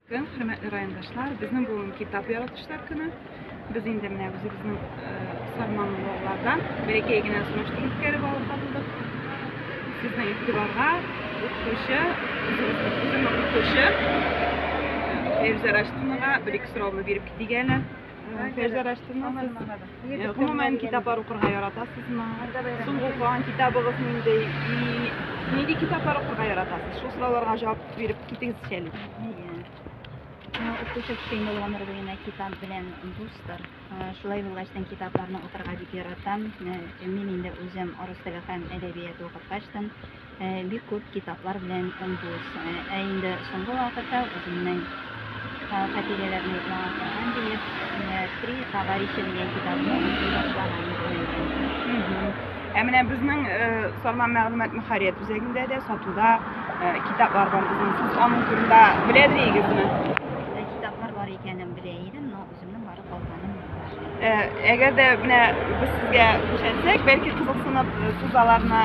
Көн, хөрмәтле райондашлар, безнең бүген китап яратучылар көне. Без инде менә үзебезнең Сарман Логлардан бәләкәй генә сунышты үткәреп алып калдык. Сезнең игътибарга укытучы, үземнең укытучы Эльза Раштинова бер-ике сорауны биреп китик әле. Сәҗәрәштемме? Гомумән китаплар укырга яратасызмы? Соңгы укыган китабыгыз нинди? И нинди китаплар укырга яратасыз? Шул сорауларга җавап биреп китегезче әле. Укучы кичәймә булганнар дигән китап белән дустыр. Шулай булгач, тен китапларны укырга дип яратам. Мин инде үзем рус теле һәм әдәбияты укып качтым. Бик күп китаплар белән дус. Ә инде соңгы вакытта үземнең хатирәләрне яңа Коръән диеп, Три товарища дигән китапны укый башлаганым. Ә менә безнең Сарман мәгълүмат мөхәррият үзәгендә дә сатуда китаплар бар. Безнең сез аның турында беләдер идегезме? Үземнең барып алганым бар. Э, әгәр дә менә без сезгә күрсәтсәк, бәлки кызыксынып э, сез аларны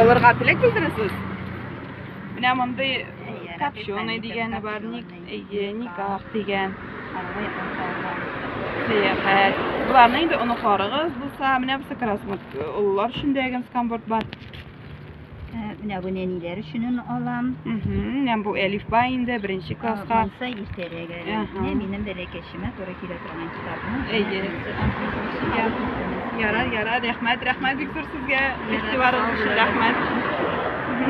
алырга теләк белдерәсез? Менә мондый копченый дигәне бар, ник, әйе, никах дигән. Сәяхәт. Боларны инде оныкларыгыз булса, менә бусы красмут. Олылар өчен дә генскамборд бар. Менә бу нәниләр өчен аны алам. Менә бу әлифба инде беренче класска. Булса иртәрәк әле. Менә минем бәләкәчемә туры килә торган китапны. Әйе. Ярар, ярар, рәхмәт, рәхмәт бик зур сезгә. Игътибарыгыз өчен рәхмәт.